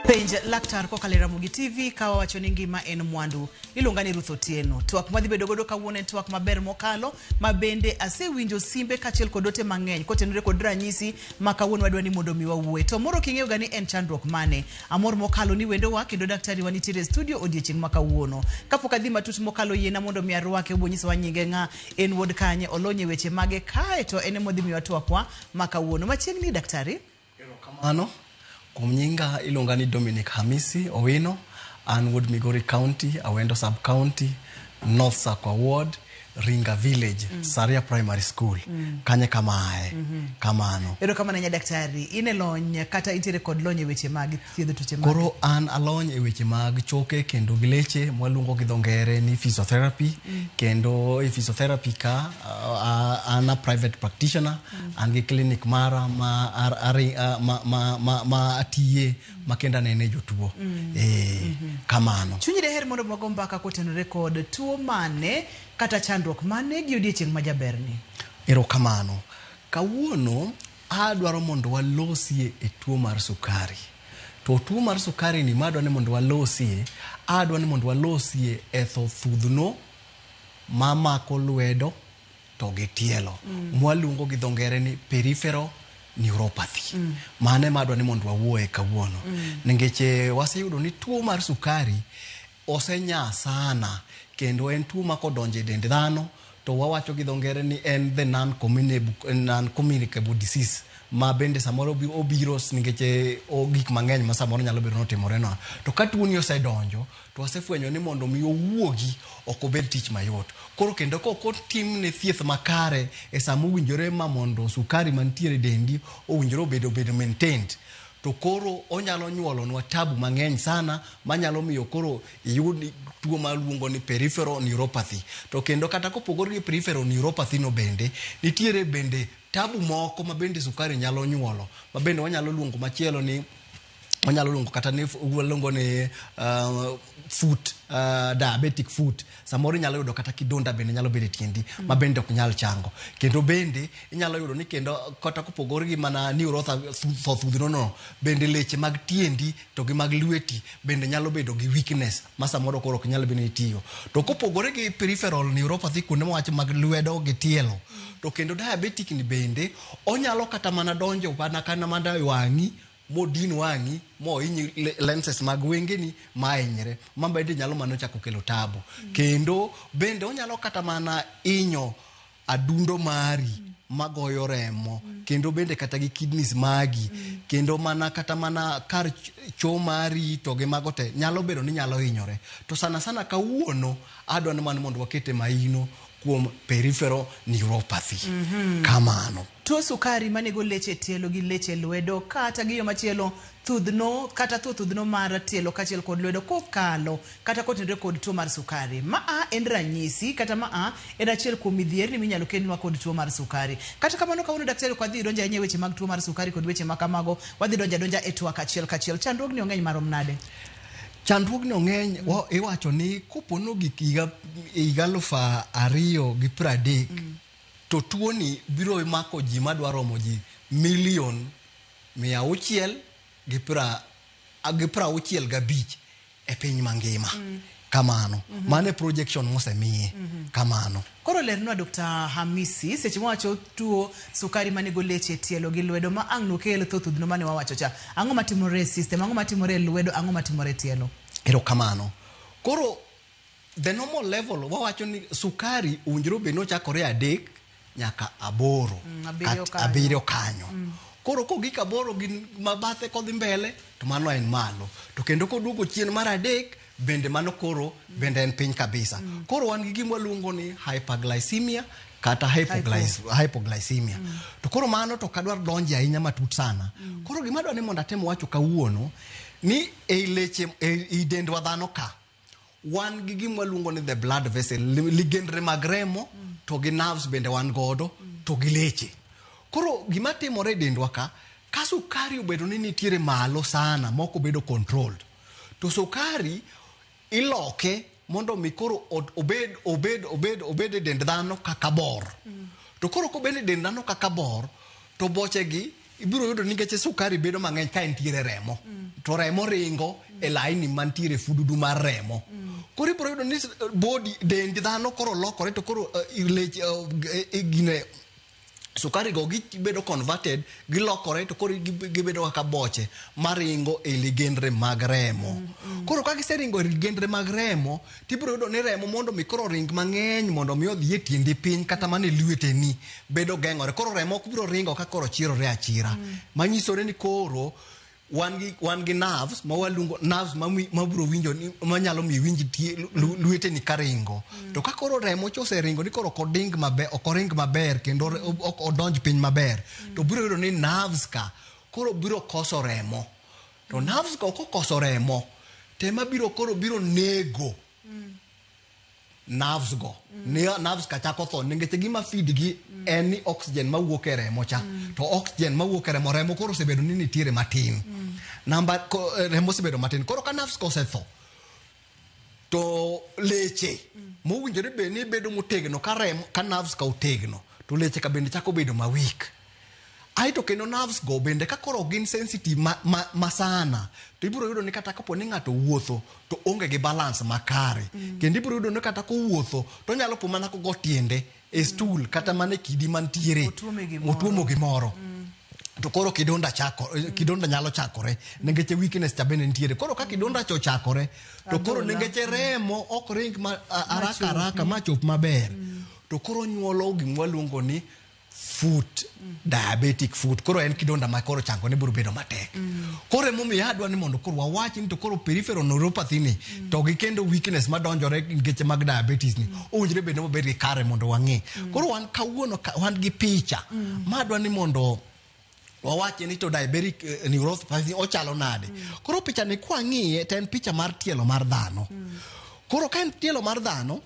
Penj laktar kokalo e Ramogi TV ka wawacho ni ngima en mwandu. Iluonga ni Ruth Otieno. Twak madhi bedo godo kawuono en twak maber mokalo ma bende asewinjo simbe kaachiel kod ote mang'eny kotenore kod ranyisi ma kawuono wadwa ni mondo mi wawuoe. To moro king'eyo ga ni en chandruok mane. Amor mokalo ni wendowa kendo daktari wa nitiere e studio odiechieng' ma kawuono. Kapok adhi matut mokalo yiena mondo mi arwake obonyisowa nyinge ng'a En wuod kanye, olony e weche mage kae to en emodhi miwa twakwa ma kawuono. Machiegni daktari. Erokamano. Kuom nyinga iluonga ni Dominic Hamisi Owino. An wuod Migori County, Awendo Sub County, North Sakwa Ward, Ringa Village, mm. Saria Primary School. Mm. Kanye kamae. Mm -hmm. Kamano. Erokamano nya daktari. Ine lony kata intiere kod lony e weche mage? thiedho tuoche mag Koro an alony e weche mag choke kendo gi leche mwaluongo gi dho ngere ni physiotherapy kendo e physiotherapy ka ah, ah, an a private practitioner an gi clinic mara ma ar- ari- ah, ma- ma- ma- ma atiye ma kendo anene jotuo Eh, kamano chunyi deher mondo wago mbaka kotenore kod tuo mane kata chandruok mane gi odiechieng' ma jaberni erokamano kawuono Adwaro mondo walosie e tuo mar sukari. To tuo mar sukari ni madwa ni mondo walosie, adwa ni mondo walosie e tho thudhno mamako lwedo to gi tielo. Mm. Mwaluongo gi dho ngere ni peripheral neuropathy. Mm. Mane madwa ni mondo wawuoye kawuono. Mm. Ningeche waseyudo ni tuo mar sukari Osenyaa sana kendo en tuo ma kodonjo e dend dhano to wawacho gi dho ngere ni en the non-communicable disease ma bende samoro obiro nikech gik mang'eny ma samoro nyalo bedo notimorenwa. To ka tuoni osedonjo to wasefwenyo ni mondo mi owuogi ok obed tich mayot. Koro kendo kok otimne thieth makare e sama owinjore ma mondo sukari mantiere e dendi owinjore obed maintained to koro onyalo nyuolonwa tabu mang'eny sana manyalo miyo koro iyud tuo maluongo ni peripheral neuropathy. To kendo kata kopogore gi peripheral neuropathy no bende, nitiere bende tabu moko ma bende sukari nyalo nyuolo, ma bende wanyalo luongo machielo ni wanyalo luongo kata ni waluongo ni uh, foot uh, diabetic foot samoro inyalo yudo kata kidonda bende nyalo bedo e tiendi mm. ma bende ok nyal chango kendo bende inyalo yudo ni kendo kata kopogore gi mana niurothothudhno no bende leche mag tiendi to gi mag lweti bende nyalo bedo gi weakness ma samoro koro ok nyal bende itiyo to kopogore gi peripheral neuropathy kuonde mawach mag lwedo gi tielo mm. to kendo diabetic ni bende onyalo kata mana donjo mana kana mana wang'i modin wang'i mohinyi lenses mag wengeni mahinyre ma bende nyalo mana chako kelo tabu kendo bende onyalo kata mana inyo adundo mari magoyo remo kendo bende kata gi kidneys magi kendo mana kata mana kar cho mari to gi mago te nyalo bedo ni nyalo hinyore to sana sana kawuono adwa ni mana mondo wakete mahino kuom peripheral neuropathy mm -hmm. kamano Tuo sukari manego leche tielo gi leche lwedo kata gi yo machielo thudhno kata thuo thudhno mar tielo kachiel kod lwedo kokalo kata kotenre kod tuo mar sukari. Ma a en ranyisi kata ma a en achiel kuom midhierni minyalo kelnwa kod tuo mar sukari. Kata kamano kawuono daktari ok wadhi donjo ahinya e weche mag tuo mar sukari kod weche makamago, wadhi donjo adonja e twak achiel kachiel. Chandruogni ong'eny marom nade? Chandruogni ong'eny mm. iwacho ni kopono gik higa higa alufu ariyo gi pradek mm. To tuoni biro mako ji madwa romo ji milion mia auchiel gi pra gi pra auchiel gabich e piny mangima kamano mano e projection mosemiye kamano Koro lernwa Dr. Hamisi seche mwawacho tuo sukari manego leche tielo gi lwedo ma ang' nokel tho thudhno mane wawacho cha. Ang'o matimore e system, ang'o matimore e lwedo, ang'o matimore e tielo? erokamano koro The normal level wawacho ni sukari owinjore obed ni ochakore adek nyaka aboro Mm, abiriyo kat- kanyo. abiriyo kanyo koro kogik aboro gi mabathe kodhi mbele to mano en malo to kendo koduogo chien mar adek bende mano koro bende en piny kabisa koro wan gi gima waluongo ni hyperglycemia kata hypoglyc- hypoglycemia to koro mano to ok adwar donje ahinya matut sana koro gima adwa ni mondo atem wacho kawuono ni ei leche ei ei dendwa dhano ka wan gi gima waluongo ni the blood vessel li- ligendre mag remo to gi nerves bende wan godo to gi leche koro gima timore e dendwa ka ka sukari obedo ni nitiere malo sana mok obedo controlled to sukari iloke mondo mi koro od- obed obed obed obed e dend dhano kaka bor to koro kobed e dend dhano kaka bor to bochegi ibiro yudo nikech sukari bedo mang'eny ka entiere remo to remo ringo e laini mantiere fududu mar remo koro ibiro yudo ni body dend dhano koro lokore to koro eh, leche eh, eh, gine sukari go gibedo converted gilokore to koro gib- gibedo kaka boche maringo e ligendre mag remo koro ka giseringo e ligendre mag remo to ibiro yudo ni remo mondo mi koro ring mang'eny mondo mi odhi e tiendi piny kata mana e lweteni bedo geng'ore koro remo ok biro ringo ka koro chirore achira mm. manyisore ni koro wan gi wan gi nerves ma waluongo nerves ma ma bro winjo ni ma nyalo mi winji ti luete ni karingo mm. to ka koro remo chose ringo ni koro koding maber ok oring maber kendo ok odonj piny maber mm. to bro yudo ni nerves ka koro bro koso remo to nerves go kokoso remo to ema biro koro biro nego nerves go ne nerves ka chako tho nikech gima feed gi en ni oxygen mawuok e remo cha to oxygen mawuok e remo remo koro osebedo ni nitiere matin namba ko- eh, remo osebedo matin koro ka nerves go osetho to leche mowinjore bed ni bedo motegno ka remo ka nerves ka otegno to leche ka bende chako bedo ma weak aeto kendo nerves go bende ka koro ok gin sensitive ma, ma, ma sana to ibiro yudo ni kata kapo ni ng'ato wuotho to onge gi balance makare mm. kendo ibiro yudo ni kata kowuotho to onyalo po mana kogo tiende e stool kata mana e kidi mantiere Otuome gimoro. otuomo gimoro to koro kidonda chako kidonda nyalo chakore nengeche weakness cha bende nitiere koro ka kidonda cha ochakore to koro Adhola. nengeche remo ok ring ma, a, haraka haraka ma chop maber to koro nyuolo gimwa luongo ni foot diabetic foot koro en kidonda ma koro chango ne biro bedo matek mm. koro emomiyo adwa ni mondo koro wawachi ni to koro peripheral neuropathy ni mm. to gi kendo weakness ma donjore ngeche mag diabetes ni mm. owinjore bed ni wabed gi kare mondo wang'e mm. koro wan kawuono wan gi picha mm. ma adwa ni mondo wawache ni to diabetic uh, eh, neuropathy ochalo nade mm. koro picha ni kwa ng'iye to en picha mar tielo mar dhano mm. koro ka en tielo mar dhano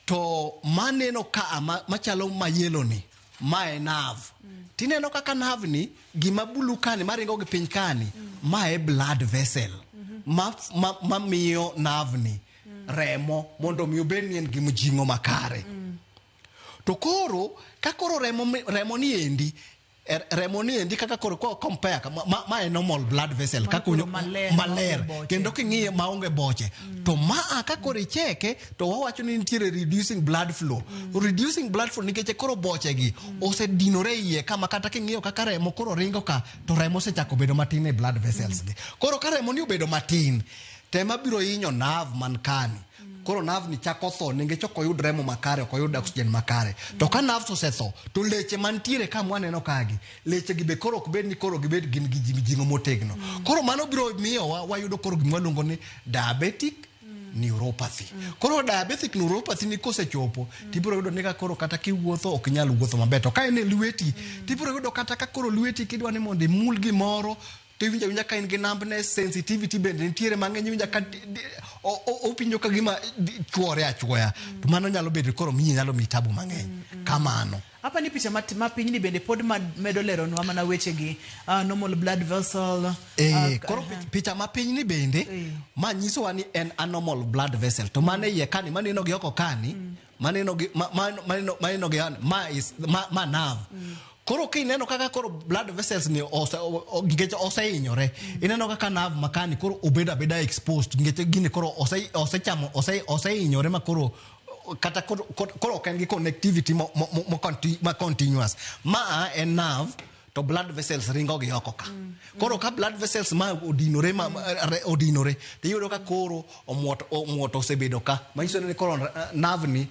to maneno ka ma, machalo ma yelo ni ma e nav mm. tineno kaka nav ni gima bulu kani maringo gi piny kani mm. ma e blood vessel mm-hmm. ma, ma, ma miyo nav ni mm. remo mondo mi obed ni en gi mjing'o makare mm. to koro ka koro remo, remo ni endi Er, remo ni endi kaka koro ko compare ka- ma, ma, ma en normal blood vessel Mano kaka unyo- koro maler, maler maonge boche. kendo king'iye maonge boche to ma a ka koro icheke to wawacho ni nitiere reducing blood flow reducing blood flow nikech koro boche gi osedinore iye kama kata king'iyo kaka remo koro ringo ka to remo osechako bedo matin e blood vessels gi koro ka remo ni obedo matin tema biro hinyo nerve man kani koro nav ni chako tho nengech ok oyud remo makare ok oyud oxygen makare to ka nav to osetho to leche mantiere ka mwaneno kagi leche gi be koro ok bed ni koro gibed gin gi mijing'o motegno mm. koro mano biro miyowa wayudo koro gima waluongo ni diabetic mm. neuropathy mm. koro diabetic neuropathy ni kosechopo mm. tibiro yudo ni ka koro kata kiwuotho ok nyal wuotho maber to ka en e lweti mm. tibiro yudo kata ka koro lweti kidwa ni mondo imul gimoro to iwinja winja ka in gi nambne sensitivity bende nitiere mang'eny iwinja ka opinjo ka gima chuore achuoya to mano nyalo bedo koro miyi nyalo miyi tabu mang'eny kamano hapa ni picha ma pinyni bende pod medo leronwa mana wechegi uh, normal blood vessel eh, uh, koro uh, picha ma pinyni bende eh. ma nyisowa ni en anormal blood vessel to mane iye kani maneno gi oko kani mm. maneno gi ma- ma- maneno maneno gi an- ma is ma, ma nav koro kineno kaka koro blood vessels ni ose- o- o- ngeche osehinyore ineno kaka nav makani koro obedo abeda exposed ngeche gini koro ose- osechamo ose- osehinyore ma koro kata koro koro- koro ok en gi connectivity mo- mo- mo- mo- conti- ma continuous ma en nav to blood vessels ringo gi oko ka koro ka blood vessels ma odinore ma ma- re- odinore to iyudo ka koro omwoto omwoto osebedo ka manyiso ni koro eh, nerve ni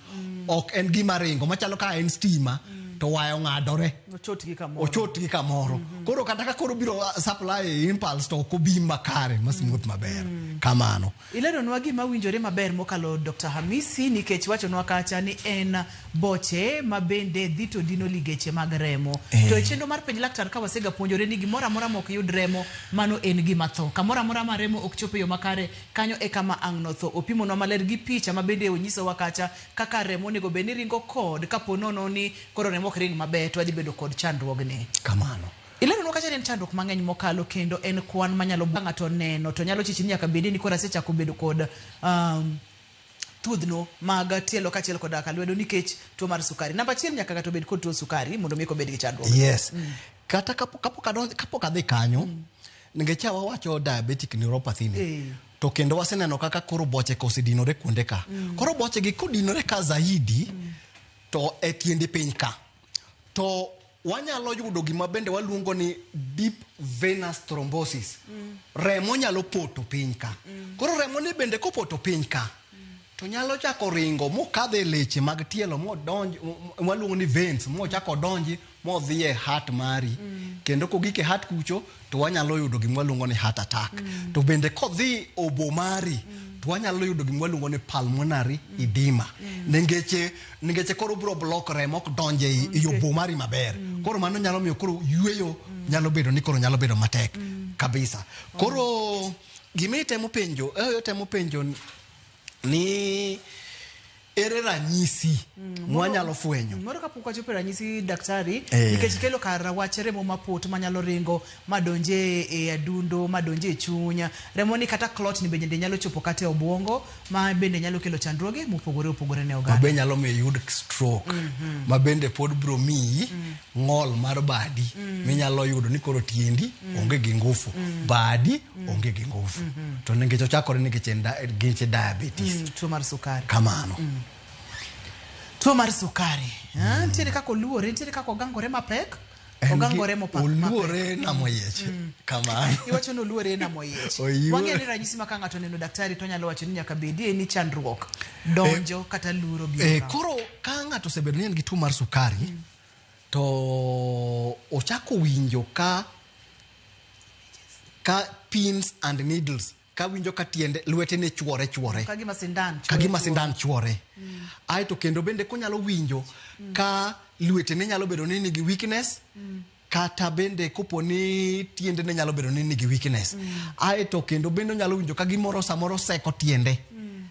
ok en gima ringo machalo ka en stima to waya ong'adore Ochot gi kamoro. ochot gi kamoro koro kata ka koro biro ah, supply impulse to ok obi makare masmuoth maber kamano Ileronwa gima winjore maber mokalo Dokta Hamisi nikech wachonwa kacha ni en boche ma bende dhi to dino ligeche mag remo. Eh. To e chenro mar penj laktar ka wasega puonjore ni gimoro amora ma ok yud remo mano en gima tho. Kamoro amora ma remo ok chop e yo makare kanyo e kama ang' notho. Opimonwa maler gi picha ma bende onyisowa kacha kaka remo onego bed ni ringo kod kapo nono ni koro remo ok ring maber to wadhi bedo kod chandruogni. Kamano. Ileronwa kacha ni en chandruok mang'eny mokalo kendo en kwan manyalo buogo ng'ato neno to nyalo chichi ni nyaka bedi ni koro asechako bedo kod um, thudhno mag tielo kachiel koda ka lwedo nikech tuo mar sukari. Namba achiel nyaka ng'ato bed kod tuo sukari mondo mi kobed gi chandruok. Yes. Mm. Kata kapok kapok adonjo kapok adhi kanyo mm. nikech wawacho diabetic neuropathy ni. Eh. To kendo waseneno kaka koro boche ka osedinore kuonde ka. Mm. Koro boche gi kodinore ka zaidi mm. to e tiende piny ka. To wanyalo yudo gima bende waluongo ni deep venous thrombosis mm. remo nyalo poto piny ka mm. koro remo ni bende kopoto piny ka mm. to nyalo chako ringo mokadho e leche mag tielo modonj waluongo ni veins mochako donji modhi e hat mari mm. kendo kogik e hat kucho to wanyalo yudo gima waluongo ni heart attack mm. to bende kodhi obo mari mm. to wanyalo yudo gima waluongo ni pulmonary mm. edema mm. nengeche nengeche koro bro block remo ok donje e mm. obo mari maber mm. koro mano nyalo miyo koro yueyo mm. nyalo bedo ni koro nyalo bedo matek mm. kabisa koro oh. gima itemo penjo eh, itemo penjo ni ere ranyisi mm, mwanyalo fwenyo mm, moro kapok wachopo e ranyisi daktari eh. nikech kelo kar wach remo mapot manyalo ringo madonje e adundo madonje e chunya remo ni kata clot ni bende nyalo chopo kata e obwongo ma bende nyalo kelo chandruoge mopogore opogore ne oganda mabe nyalo miyo yud stroke mm -hmm. ma bende pod bro miyi mm. ng'ol mar badi mm. minyalo yudo ni koro tiendi mm. onge gi ngufu mm. badi mm. onge gi ngufu mm -hmm. to nikech ochakore nikech en geche diabetes mm, tuo mar sukari kamano mm. tuo mar sukari mm. ntiere kaka oluore ntiere kaka ogangore mapek ogangore mopoluore namoyiech mm. kamano iwacho ni oluore namoyiech wang'e ni ranyisi ma ka ng'ato neno daktari to nyalo wacho ni nyaka bedie ni chandruok donjo eh, kata luro bi eh, koro ka ng'ato osebedo ni en gi tuo mar sukari mm. To ochako winjo ka ka pins and needles ka winjo ka tiende lwete ne chuore chuore ka gima sindan ka gima sindan chuore mm. ae to kendo bende konyalo winjo mm. ka lwete ne nyalo bedo ni nigi weakness mm. kata bende kopo ni tiende ne nyalo bedo ni nigi weakness mm. ae to kendo bende onyalo winjo ka gimoro samoro seko tiende mm.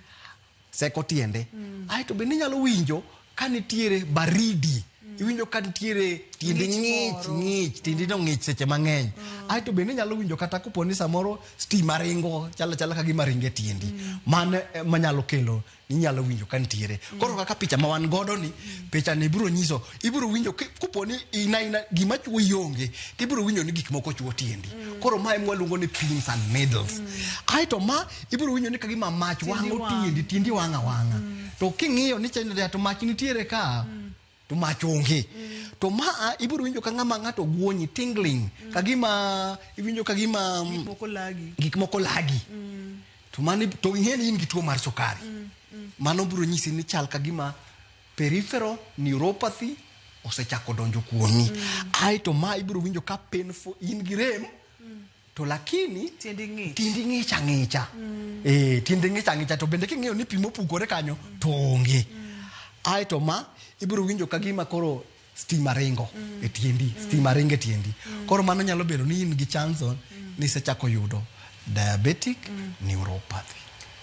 seko tiende mm. ae to bende inyalo winjo ka nitiere baridi mm. iwinjo ka nitiere tiendi ng'ich ng'ich tiendi no ng'ich seche mang'eny mm. ae to bende inyalo winjo kata kopo ni samoro stima ringo chala chala ka gima ringe tiendi mm. mano eh, manyalo kelo inyalo winjo ka nitiere mm. koro kaka picha ma wan godo ni mm. picha ni ibiro nyiso ibiro winjo kopo ni ina ina gima chuo yonge to ibiro winjo ni gik moko chuo tiendi mm. koro ma emwaluongo ni pins and middles mm. ae to ma ibiro winjo ni ka gima mach Tiendi wang'o wang'. tiendi tiendi wang' awang'a to king'iyo ni chenjo to mach nitiere ka to mach onge to ma a, ibiro winjo ka ng'ama ng'ato guonyi tingling ka gima iwinjo ka gima mm, Moko lagi. gik moko lagi to mano to ing'e ni in gi tuo mar sukari mano biro nyisi ni chal ka gima peripheral neuropathy osechako donjo kuomi ae to ma ibiro winjo ka painful in gi rem to lakini tindi ng'ich tindi ng'ich ang'icha mm. eh tindi ng'ich ang'icha to bende king'eyo ni pimo pukore kanyo mm. to onge mm. ai to ma ibiro winjo ka gima koro stima ringo mm. e tindi mm. stima ringo e tindi mm. koro mano nyalo bedo ni in gi chanson mm. ni sechako yudo diabetic mm. neuropathy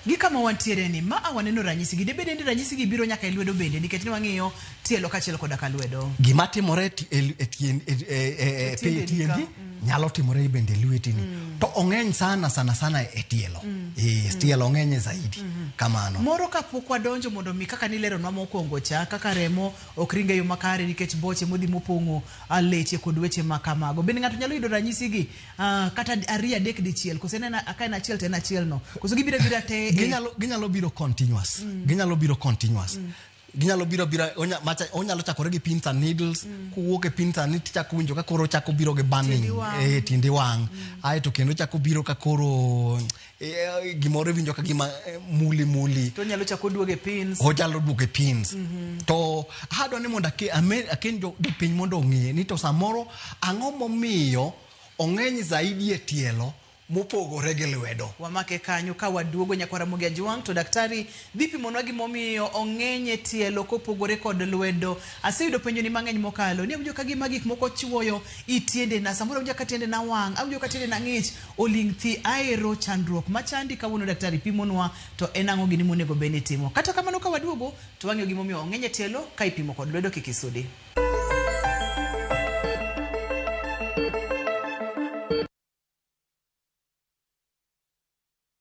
Gi kama wantiere ni, ma a waneno ranyisi gi. Debede ni ranyisi gi biro nyaka e lwedo bende, nikech ni wang'iyo tielo kachiel koda ka lwedo. Gima timore e ti- e l- e tien- e- e- e- e- tiendeni tiendi ka. Mm. nyalo timore bende e lwetini. Mm. To ong'eny sana sana sana e tielo. Mm. Eh, Mm. tielo ong'enye zaidi. Mhm. Kamano. Moro kapok wadonjo mondo mi kaka nileronwa mokwongo cha kaka remo ok ringe yo makare nikech boche modhi mopong'o a leche kod weche ma kamago. Bende ng'ato nyalo yudo ranyisigi Uh, kata ariyo adek dichiel koso en ka en achiel to en achiel no koso gibiro bira te ginyalo ginyalo biro continuous mm. ginyalo biro continuous mm. ginyalo biro bira onya, macha, onyalo chakore gi pins and needles mm. kuwuok e pins and needles chako winjo ka koro chako biro gi burning e tindi wang mm. aeto kendo chako biro ka koro Eh, gimoro iwinjo ka gima eh, muli muli to nyalo chako duoge pins onyalo duoge pins mhm. to adwa ni mondo aken jopiny mondo ong'e ni to samoro ang'o momiyo ong'eny zaidi e tielo mopogore gi lwedo wamake kanyo ka waduogo nyakwara mogi ajwang' to daktari Dhi pimonwa gimomiyo ong'eny e tielo kopogore kod lwedo. Aseyudo penjoni mang'eny mokalo ni awinjo ka gima gik moko chuoyo i tiendena, samoro awinjo ka tiendena wang', awinjo ka tiendena ng'ich, oling' thi, aero chandruok machandi kawuono daktari pimonwa to en ang'o gini monego bed ni itimo. Kata kamano ka waduogo to wang'eyo gimomiyo ong'eny e tielo ka ipimo kod lwedo kik isudi.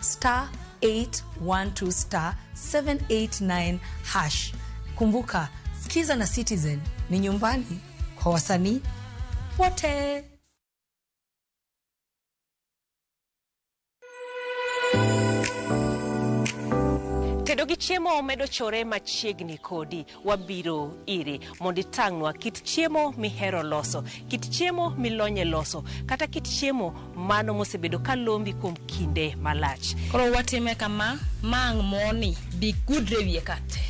star 812 star 789 hash. Kumbuka, Skiza na Citizen ni nyumbani kwa wasanii wote. Tedo gi chiemo medo chore machiegni kodi. wabiro iri mondo itang'nwa kit chiemo mihero loso, kit chiemo milonye loso, kata kit chiemo mano mosebedo ka lombi kuom kinde malach. Koro watime kama, mang' moni bi gudre e wiye kate.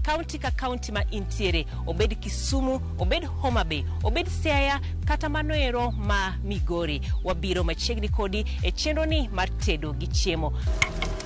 Kaunti ka kaunti ma intiere, obed Kisumu, obed Homa Bay, obed Siaya, kata mano ero ma Migori, wabiro machiegni kodi e chenroni mar tedo gi chiemo.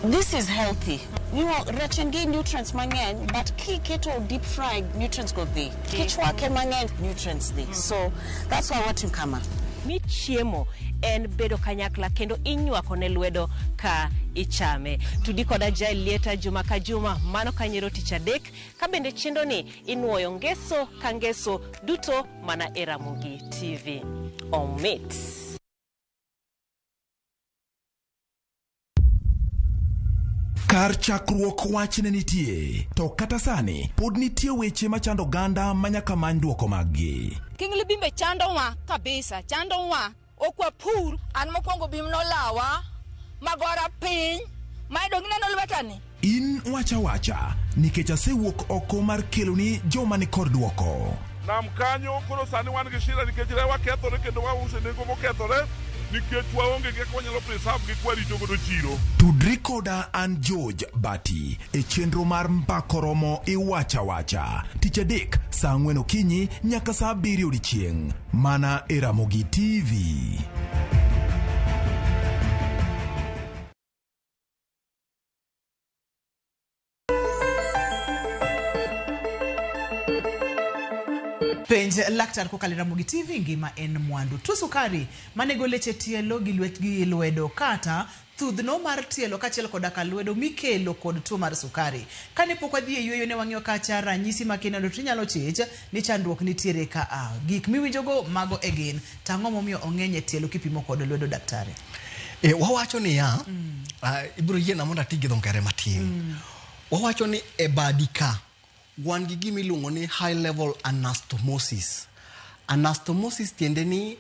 This is healthy. Nyo, rech en gi nutrients mang'eny but kiketo deep fry nutrients go dhi kichwake mang'eny nutrients dhi so that's why watimo kama mi chiemo en bedo kanyakla kendo inywako ne lwedo ka ichame tudi koda jael lieta juma ka juma mano kanyero tich adek ka bende chendo ni inwoyo ngeso ka ngeso duto mana e ramogi tv omit Kar chakruok wach ne nitie, to kata sani pod nitie weche machando oganda manyaka many dwoko maggi. King Libimbe chandowa kabisa, chandowa ok wapur. An mokwongo bim nolawa magora piny mayudo gineno lwetani In wacha wacha, nikech asewuok oko mar keloni joma ni kor dwoko. nam kanyo koro sani wan gi shida nikech rewa kethore kendo wause nengo mokethore nikech waonge gi kaka wanyalo preserve gi kwarito godo chiro Tudri koda an George Bati e chenro mar Mbako Romo Iwacha Wacha. Tich adek saa ang'wen okinyi nyaka saa abiriyo odiechieng'. Mana e Ramogi TV. Penj laktar kokalo e Ramogi TV ngima en mwandu. Tuo sukari manego leche tielo gi lwet gi lwedo kata thudhno mar tielo kaachiel koda ka lwedo mikelo kod tuo mar sukari. Kane pok wadhi e yueyo ne wang'iyo kacha ranyisi ma kineno to inyalo chich Ni chandruok nitiere ka a. Gik miwinjogo mago e gin. To ang'o momiyo ong'eny e tielo kipimo kod lwedo daktari? E, wawacho niya, ah, ibiro yiena mondo ati gi dho ngere matin. Wawacho ni e badi ka, wan gi gima iluongo ni high level anastomosis. Anastomosis tiende ni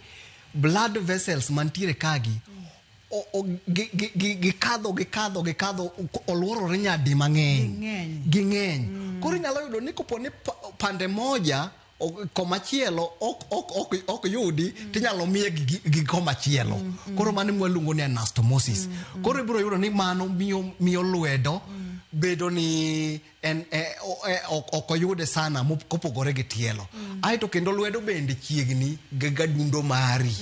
blood vessels mantiere kagi o- o- gi- gi- gi- gikadho gikadho gikadho ko- olworore nyadi mang'eny Ging'eny. ging'eny koro inyalo yudo ni kopo ni pa- pande moja o- komachielo ok ok ok ok yudi tinyalo miye gi- gi- gi komachielo koro mano mwaluongo ni anastomosis koro ibiro yudo ni mano miyo miyo lwedo bedo ni en e, o, e, ok ok oyude sana mop- kopogore gi tielo aeto kendo lwedo bende chiegni gi gadundo mari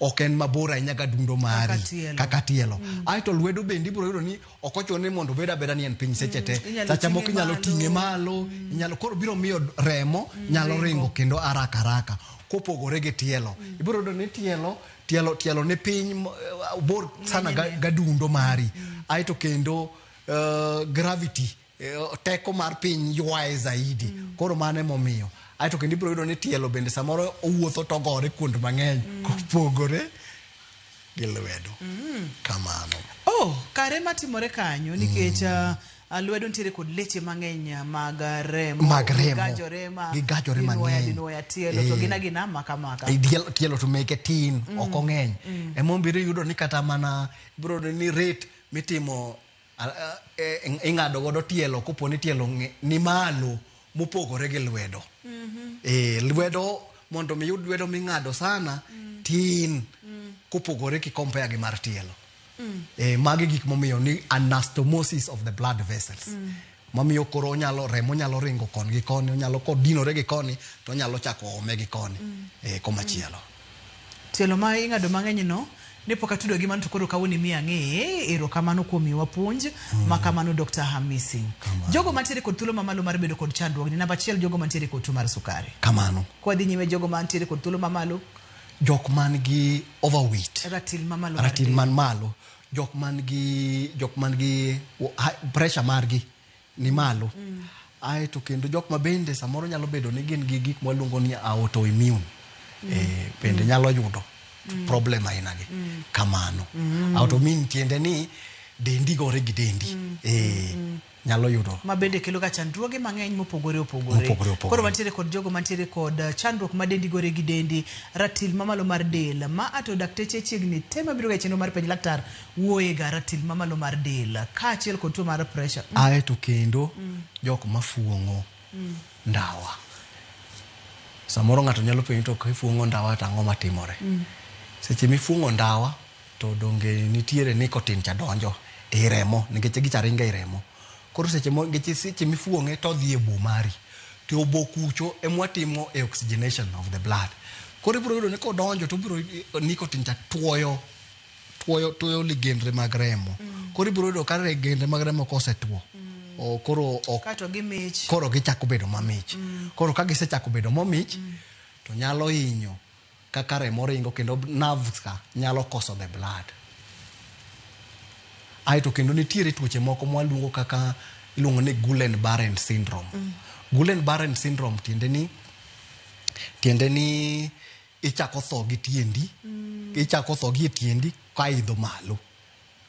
ok en mabor ahinya gadundo mari tielo. kaka tielo aeto lwedo bende ibiro yudo ni ok ochuno ni mondo obed abeda ni en piny seche te Inyalo sacha moko ting'e inyalo malo. ting'e malo inyalo koro biro miyo remo nyalo ringo kendo araka araka kopogore gi tielo ibiro yudo ni tielo tielo tielo ni piny mo- eh, bor sana ga- gadundo mari aeto kendo uh, gravity uh, teko mar piny ywaye zaidi mm. koro mano emomiyo aeto kendo ibiro yudo ni tielo bende samoro owuotho to gore kuond mang'eny mm. kopogore gi lwedo mm. kamano oh, kare matimore kanyo nikech mm. uh, lwedo ntiere kod leche mang'eny uh, mag uh, remo mag remogigajore mang'enyinwoya tielo to eh. gina gina makamaka tielo to meke tin mm. ok ong'eny mm. emombirio yudo ni kata mana ibiro yudo ni rate mitimo ing'ado godo tielo kopo ni tielo ni malo mopogore gi lwedo mm -hmm. e, lwedo mondo mi yud lwedo ming'ado sana mm. tin mm. kopogore ki compare gi mar tielo mm. e, magi gik momiyo ni anastomosis of the blood vessels mm. mamiyo koro onyalo remo nyalo ringo koni gi koni onyalo kodinore gi koni to onyalo chako ome gi koni mm. e, eh, komachielo mm. tielo ma ing'ado mang'eny no ne pok atudo gi mano to koro kawoni mi ang'e ero kamano kuom miwa puonj mm. ma kamano Dr. Hamisi kamano. jogo mantiere kod thuolo mamalo mar bedo kod chandruogni namba achiel jogo mantiere kod tuo mar sukari kamano kwadhi nyime jogo mantiere kod thuolo mamalo jok man gi overweight ratil man malo jok man gi jok man gi wo- ha- pressure margi ni malo ae to kendo jok ma bende samoro nyalo bedo ni gin gi gik mwaluongo ni autoimmune eh, bende nyalo yudo problem ainagi kamano autoimmune tiende ni dendi gore gi dendi eh, nyalo yudo ma bende kelo ga chandruoge mang'eny mopogore opogore mopogore opogore koro wantiere kod jogo mantiere kod uh, chandruok ma dendi gore gi dendi ratil mamalo mar del ma ato dakteche chiegni te mabiro ga e chenro mar penj laktar wuoye ga ratil mamalo mar del kaachiel kod tuo mar pressure mm. ae to kendo mm. jok mafuong'o mm. ndawa samoro ng'ato nyalo penjo to kifuong'o ndawa to ang'o matimore mm. seche mifuong'o ndawa To donge nitiere nicotine cha donjo ei remo nikech gicha ringo ei remo. Koro seche mo nikech seche mifuong'e to odhi e obo mari. To e obo kucho e mwa timo e oxygenation of the blood. Koro ibiro yudo ni kodonjo to obiro nicotine cha tuoyo tuoyo tuoyo ligendre mag remo. Koro ibiro yudo ka ligendre mag remo kosetuo o, koro ok Kato gi mich. koro gichako bedo mamich. Koro ka gisechako bedo mamich to nyalo hinyo Kaka remo ringo kendo nerves ka nyalo koso the blood. Aeto kendo nitiere tuoche moko mwaluongo kaka iluongo ni Gulen Barren syndrome. Mm. Gulen Barren syndrome tiende ni tiende ni ichako tho gi tiendi, mm. ichako tho gi tiendi ka idho malo.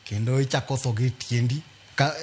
kendo ichako tho gi tiendi ka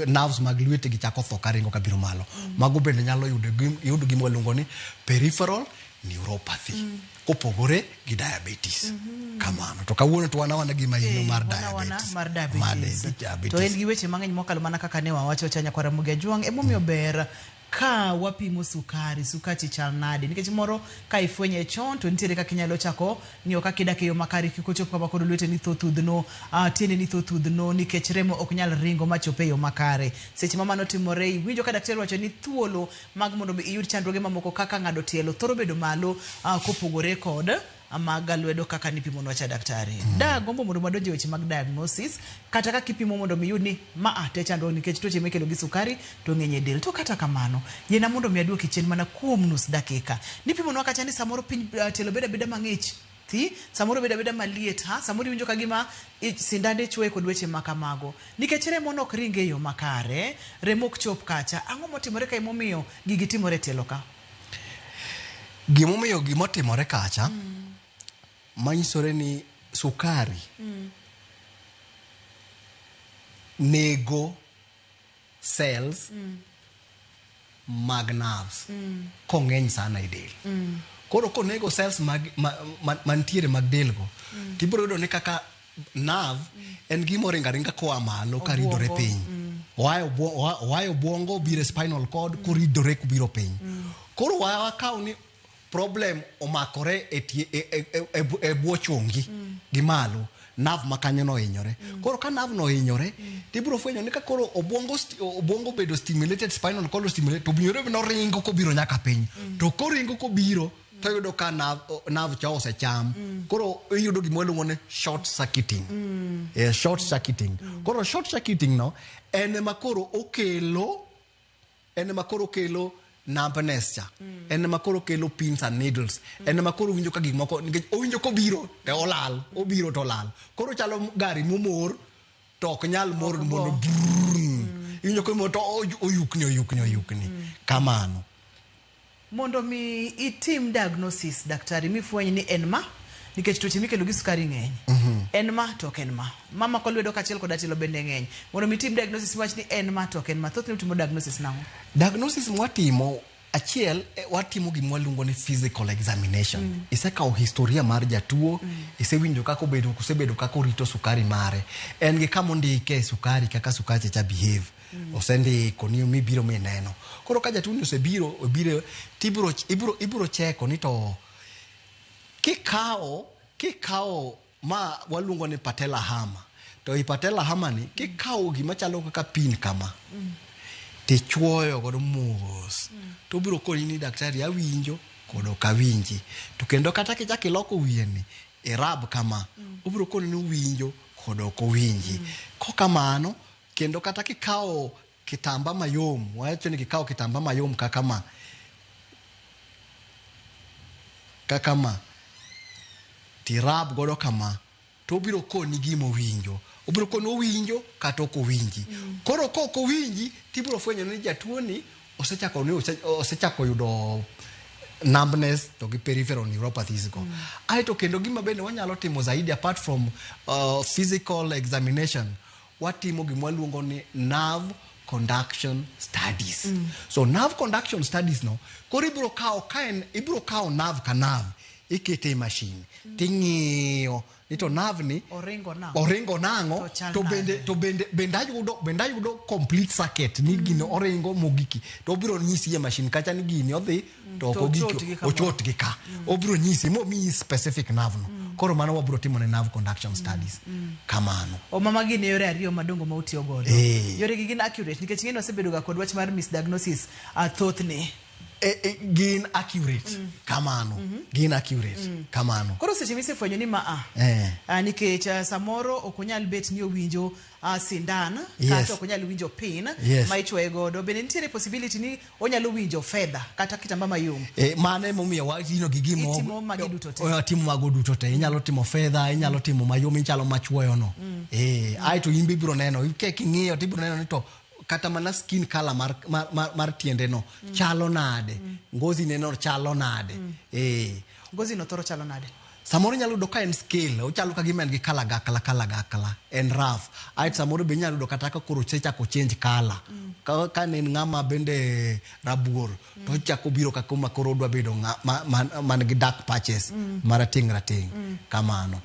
nerves mag lwete gi chako tho karingo ka biro malo mm. mago bende nyalo yudo yudo gima waluongo ni peripheral neuropathy mm. kopogore gi diabetes mm -hmm. kamano to kawuono to wanawana gima ino mar diabetes mar diabetes to en gi weche mang'eny mokalo mana kaka ne wawacho cha nyakwara mugi ajuang' emomiyo mm. ber Ka wapimo sukari, sukachi chal nade? Nikech moro ka ifwenye chon to nitiere kaka inyalo chako ng'iyo kaka idak e yo makare kik ochop kama koro lweteni tho thudhno, ah, tiendeni tho thudhno nikech remo ok nyal ringo ma chop e yo makare. Seche ma mano timore, iwinjo ka daktari wacho ni thuolo mag mondo mi iyud chandruoge mamoko kaka ng'ado tielo thoro bedo malo ah, kopogore kod Amaga lwedo kaka nipimonwa cha daktari. Mm. Da gombo mondo madonje weche mag diagnosis kata kaka ipimo mondo mi yud ni ma a te chandruok nikech tuoche mikelo gi sukari to ng'eny e del. To kata kamano, yena mondo mi aduoki chien mana kuom nus dakika. Nipimonwa kacha ni samoro piny uh, tielo beda beda mang'ich thi samoro beda beda maliet ha samoro iwinjo ka gima sindande chwoye kod weche ma kamago nikech remo nok ringe yo makare remo ok chop kacha ang'o motimore ka emomiyo gigi timore tielo ka Gimomiyo gimotimore kacha manyisore ni sukari nego cells mag nerves kong'eny sana e del. Koro konego cells mag ma- ma- mantiere mag delgo tibiro yudo ni kaka nerve en gima oringo aringa koa malo ka ridore Obwongo. piny oa e obwo- oa- oa e obwongo obiro e spinal cord koridore kubiro piny koro wa- wakaw ni problem omakore e tie- e- e- e- e bwo- e bwo chongi gi malo nav ma kanyo nohinyore koro ka nav nohinyore tibiro fwenyo ni ka koro obwongo sti- obwongo obedo stimulated spinal cord stimulated to obiro noringo kobiro nyaka piny to koringo kobiro to yudo ka nav o- nav cha osecham koro iyudo gima iluongo ni short circuiting Eh, short circuiting koro short circuiting no en ema koro okelo en ema koro kelo numbness cha en ema koro kelo pins and needles en ema koro winjo ka gik moko nikech owinjo kobiro to olal obiro to olal koro chalo gari momor to ok nyal mor mondo brrrr. iwinjo komor to oy- oyukni oyukni oyukni kamano Mondo mi itim diagnosis daktari mifweny ni en ma nikech tuoche mikelo gi sukari ng'eny. Mm -hmm. En ma to ok en ma. Mama ko lwedo kachiel koda tielo bende ng'eny. Mondo mi itim diagnosis miwach ni en ma to ok en ma. Thothne utimo diagnosis nang'o? Diagnosis mwatimo achiel eh, watimo gima waluongo ni physical examination mm. isekawo historia mar jatuo mm. isewinjo kaka obedo kusebedo kaka orito sukari mare en gi kama ondike sukari kaka sukari cha behave osendiko ni mibiro mi neno koro ka jatuoni osebiro obiro tibiro ibiro ibiro cheko ni to kikawo kikawo ma waluongo ni patella hama to i patella hama ni kikawo gima chalo kaka pin kama tichuoyo godo mos to biro koni ni daktari awinjo kod ok awinji to kendo kata kichak iloko wiyeni irab kama obiro koni ni uwinjo kod ok uwinji kokamano Kendo kata kikawo kitamba mayom, wacho ni kikawo kitamba mayom kaka ma, kaka ma, tirab godo kama, to obiro koni gima owinjo. Obiro koni owinjo kata ok owinji. Mm. Koro ka ok owinji, tibiro fwenyo ni jatuoni osechako ni osechako yudo numbness to gi peripheral neuropathies go. Mm. Aeto kendo gima bende wanyalo timo zaidi apart from uh, physical examination watimo gima waluongo ni nerve conduction studies mm. so nerve conduction studies no koro ibiro kawo ka en ibiro kawo nerve ka nerve ikete e mashin mm. ting'iyo ni to nerve ni oringo nang'o oringo nang'o to bende to bende bende ayudo bende ayudo complete circuit ni mm. gino oringo mogiki to obiro nyisi e mashin kacha ni gini odhi to ok To ogik ochot gi kamoro. ochot gi ka obiro nyisi momiyi specific nerve no koro mano wabiro timo ne nerve conduction studies kamano oma magi ne yore ariyo madongo ma utiyo godo Eh. yoregi gin accurate nikech ng'eni wasebedoga kod wach mar misdiagnosis ah, thothne e, e, gin accurate kamano gin accurate kamano koro seche misefwenyo ni maa Eh. ah, nikech ah, samoro ok onyal bet ni owinjo ah, sindan Yes. kata ok onyal winjo pin Yes. ma ichwoye godo bende nitiere possibility ni Onyalo winjo fedha kata kitamba mayom. E, mano emomiyo watino gi gimo Itimo magi duto te. Eh, timo mago duto te inyalo timo fedha inyalo timo mayom ichalo machuoyono mm. e, aeto in be ibiro neno ke king'iyo to ibiro neno ni to kata mana skin color mar, mar, mar, mar tiendeno mm. chalo nade mm. ngozi neno chalo nade mm. e, ngozi no thoro chalo nade Samoro inyalo yudo ka en scale, ochalo ka gima en gi kalagakla kalagakla, en rough. Ae to samoro be inyalo yudo kata ka koro osechako change color. Ka, ka ne en ng'ama bende rabuor, to ochako biro ka kuma koro odwa bedo ng'a, ma, man, man gi dark patches, marateng' rateng', kamano.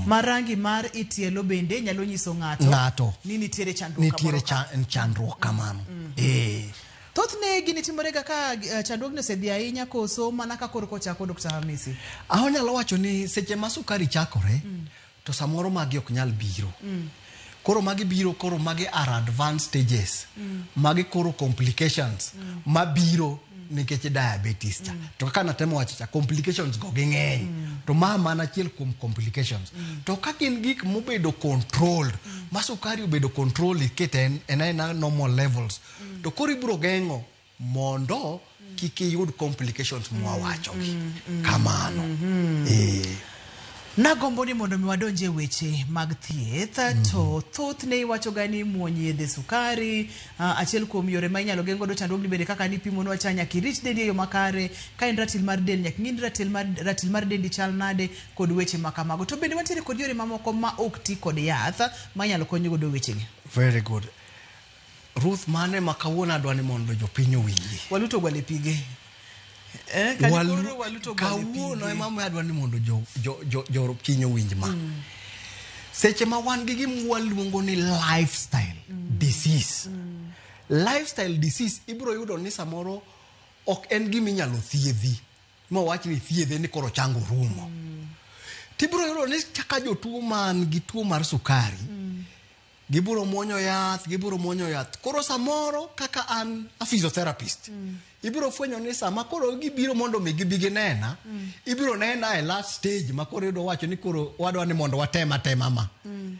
Ma rangi mar i tielo bende nyalo nyiso ng'ato, Ng'ato. ni nitiere chandruok Nitiere kamoro cha, chandruok kamano. Eh. Thothne gini timorega ka eh, chandruogni osedhi ahinya koso mana ka koro kochako Dr. Hamisi? Ah, onyalo wacho ni seche ma sukari chakore mm. to samoro magi ok nyal biro mm. koro magi biro koro magi are advanced stages mm. magi koro complications mm. mabiro mm. nikech diabetes cha mm. to kaka natemo wacho cha complications go ging'eny mm. to ma mana achiel kuom complications mm. to ka gin gik mobedo controlled mm. ma sukari obedo controlled ikete en aena normal levels to koro ibiro geng'o mondo kik iyud complications mwawachogi kamano Eh. Nagombo ni mondo mi wadonje e weche mag thieth to thothne iwachoga ni muony yedhe sukari ah, achiel kuom yore ma inyalo geng' godo chandruogni bende kaka ni pimonwa cha nyaka irit dendi e yo makare ka en ratil mar del nyaka ing'e ni ratil mar, ratil mar dendi chal nade kod weche ma kamago to bende wantiere kod yore mamoko ma ok ti kod yath ma inyalo kony godo wechegi very good Ruth mane ma kawuono adwa ni mondo jopiny owinji. Waluto gwale pige. Eh, kani Walu- koro waluto gwale kawuono pige. ema adwa ni mondo jo- jo- jo- jopiny owinj ma seche ma wan gi gima waluongo ni lifestyle disease lifestyle disease ibiro yudo ni samoro ok en gima inyalo thiedhi ma wach ni thiedhe ni koro chango rumo tibiro yudo ni kaka jotuo man gi tuo mar sukari gibiro muonyo yath gibiro muonyo yath koro samoro kaka an a physiotherapist mm. ibiro fwenyo ni sama koro gibiro mondo mi gibi ginena mm. ibiro nena e last stage ma koro yudo wacho ni koro wadwa ni mondo watem atema ma mm.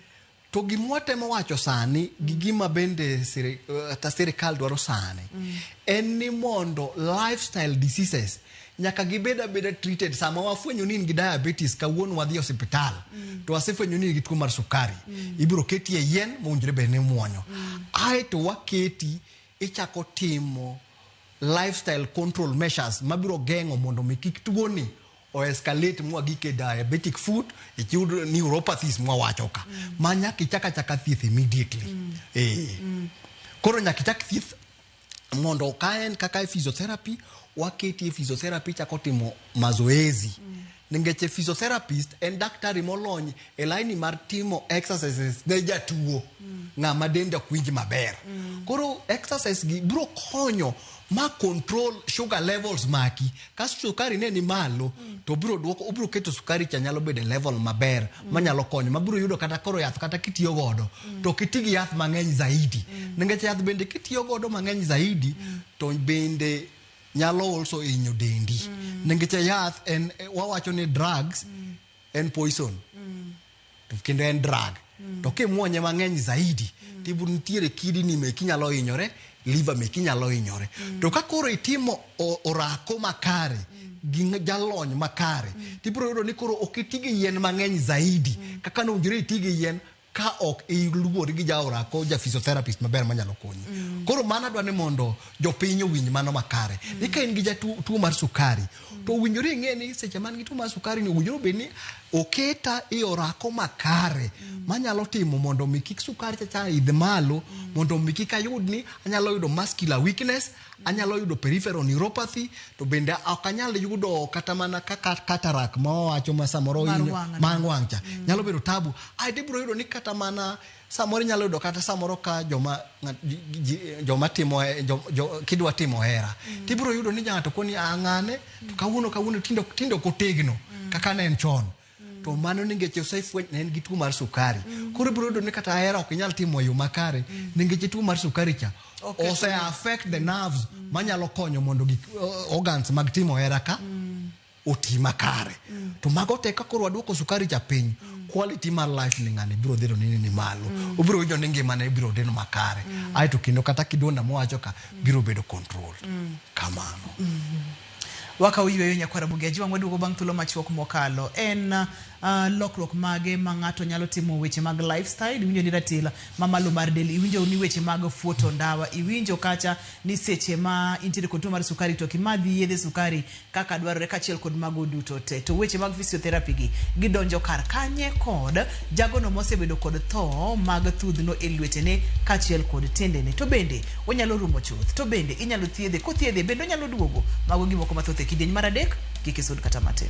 to gima watemo wacho sani gi gima bende kata sirikal dwaro sani mm. en ni mondo lifestyle diseases nyaka gibed abeda treated sama wafwenyo ni in gi diabetes kawuono wadhi e osiptal mm. to wasefwenyo ni in gi tuo mar sukari mm. ibiro keti e yien mowinjore bed ni muonyo mm. ae to waketi ichako timo lifestyle control measures mabiro geng'o mondo mi kik tuoni o escalate mwa gike diabetic foot ikiyud neuropathies mwa wacho ka mm. ma nyaka ichaka chaka thieth immediately mm. eh mm. koro nyaka ichak thieth mondo ka en kaka e physiotherapy waketi e physiotherapy chako timo mazoezi mm. ningech e physiotherapist en daktari molony e laini mar timo exercises ne jatuo mm. ng'ama dende ok winj maber mm. koro exercise gi biro konyo ma control sugar levels maki ka sukari ne ni malo to obiro duoko obiro keto sukari cha nyalo bedo e level maber manyalo konyo mabiro yudo kata koro yath kata kitiyo godo to kiti gi yath mang'eny zaidi nikech yath bende kitiyo godo mang'eny zaidi to bende nyalo also hinyo dendi nikech yath en wawacho ni drugs en poison to kendo en drug mm. to kimwonye mang'eny zaidi mm. to nitiere kidi ni meki nyalo hinyore liver meki nyalo hinyore mm. to ka koro itimo orako makare mm. gi jalony makare mm. to ibiro yudo ni koro ok iti gi yien mang'eny zaidi mm. kaka nowinjore iti gi yien ka ok iluwori gi jaora ko ja physiotherapist maber manyalo konyi mm. koro mano adwa ni mondo jopiny owinj mano makare mm. ni ka in gi jatuo mar sukari to owinjore ing'e ni seche man gi tuo mar sukari ni owinjore obed ni oketa e orako makare manyalo timo mondo mi kik sukari chacha idh malo mondo mi kik ayud ni anyalo yudo muscular weakness anyalo yudo peripheral neuropathy to bende ok anyal yudo kata mana kaka cataract ma wawacho ma samoro Mar in- wang', mar wang' cha nyalo bedo tabu aeto ibiro yudo ni kata mana Samoro inyalo yudo kata samoro ka joma joma timo kidwa timo hera mm. tibiro yudo ni ng'ato koni ang'ane ah, to kawuono kawuono tindo tindo kotegno mm. kaka ne en chon mm. to mano ni ngeche osefweny ne en gi tuo mar sukari mm. koro ibiro yudo ni kata hera ok inyal timo e yo makare mm. ni ngeche tuo mar sukari cha okay, ose affect the nerves mm. manyalo konyo mondo gik organs mag timo hera ka mm. oti makare mm. to mago te ka koro waduoko sukari cha piny mm. quality mar life ni ng'ani biro dhiro nini ni malo mm. obiro winjo ni ngimane ibiro dhino makare mm. aeto kendo kata kidonda mowacho ka mm. biro bedo control mm. kamano mm -hmm. waka uyweyo nyakwara bugeji wang' waduogo bang' thuolo machuok mokalo en uh, lokruok mage ma ng'ato nyalo timo weche mag lifestyle iwinjo ni ratila mamalo mar del iwinjo ni weche mag fuoto ndawa iwinjo kacha ni seche ma intiere kod tuo mar sukari to kimadhi yedhe sukari kaka dwarore kachiel kod mago duto te. To weche mag physiotherapy gi gidonjo kar kanye kod jagono mosebedo kod tho mag thudhno e lwetene kachiel kod tendene. To bende onyalo rumo chuth. To bende inyalo thiedhe. Kothiedhe bende onyalo duogo. Mago gimoko mathoth e kidieny mar adek. Kik isud kata matin.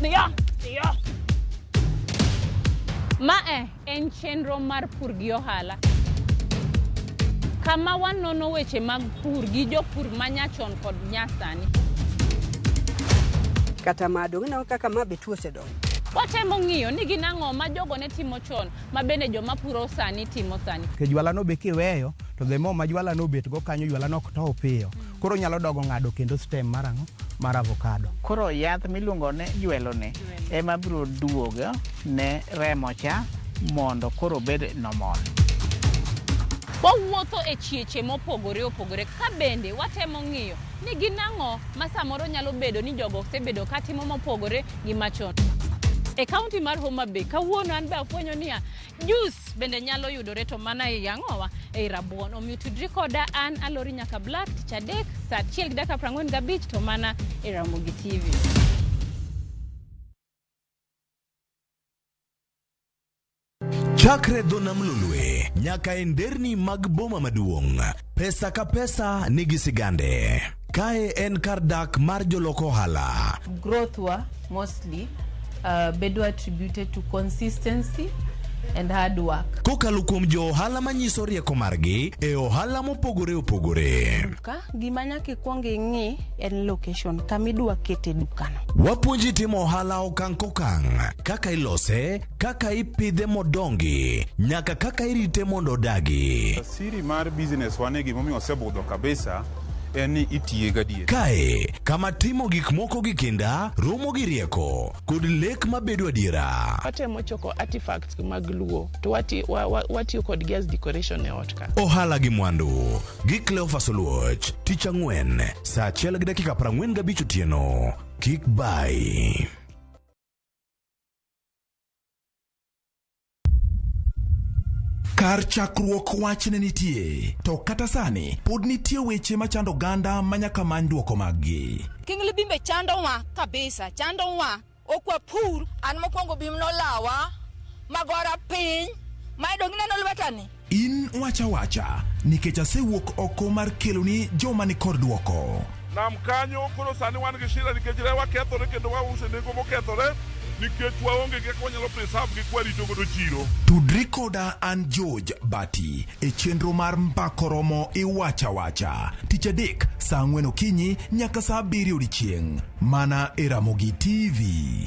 Dhiyo, dhiyo. Ma e en chenro mar pur gi ohala. Kama wanono weche mag pur gi jopur ma nyachon kod nyasani. Kata ma dong' ineno kaka ma be tuo osedongo. Watemo ng'iyo ni gin ang'o ma jogo ne timo chon ma bende joma puro sani timo sani. Ke jwalano be kiweyo to the more ma jwalano obetgo kanyo jwalano ok tow piyo. Koro onyalo dogo ng'ado kendo stem mar ang'o? Mar avocado. Koro yath miluongo ni jwelo ni ema biro duogo ne remo cha mondo koro obed normal. Wawuotho e chieche mopogore opogore ka bende watemo ng'iyo ni gin ang'o ma samoro nyalo bedo ni jogo osebedo ka timo mopogore gi machon. E kaunti mar Homa Bay kawuono an be afwenyo niya, Jus bende nyalo yudore to mana e yang'owa ei rabuon. Omiyo tudri koda an Alori Nyaka Black tich adek saa achiel gi dakika prang'wen gabich to mana e Ramogi TV. Chakre dho nam lolwe nyaka e nderni mag boma maduong'. Pesa ka pesa nigi sigande. Kae en kar dak mar jolok ohala. growth wa mostly uh, bedo attributed to consistency and hard work Kokalo kuom jo ohala manyiso rieko margi e ohala mopogore opogore. ka gima nyaka ikwong ing'i en location kama idwa kete dukano Wapuonji timo ohala okang' kokang', kaka ilose, kaka ipidhe modongi, nyaka kaka irite mondo odagi. Siri mar business wa ni gimomiyo osebudho kabisa en ni itiye gadier. Kae kama timo gik moko gi kinda romo gi rieko kod lek mabedo adiera. watemo choko artifacts mag luo to wati- wa- wa- watiyo kodgi as decoration e ot ka Ohala gi mwandu gi Cleophas Oluoch tich ang'wen saa achiel gi dakika 45 otieno. Kik bay. Kar chakruok wach ne nitie, to kata sani pod nitie weche machando oganda ma nyaka many dwoko maggi. King Libimbe chandowa kabisa, chandowa. Ok wapur. An mokwongo bim nolawa magora piny, mae donge ineno lwetani? In wacha wacha, nikech asewuok oko mar keloni joma ni kor dwoko. nam kanyo koro sani wan gi shida nikech rewa kethore kendo wause nengo mokethore nikech waonge gi kaka wanyalo preserve gi kwarito godo chiro Tudri koda an George Bati e chenro mar Mbako Romo Iwacha Wacha. Tich adek saa ang'wen okinyi nyaka saa abiriyo odiechieng'. Mana e Ramogi TV.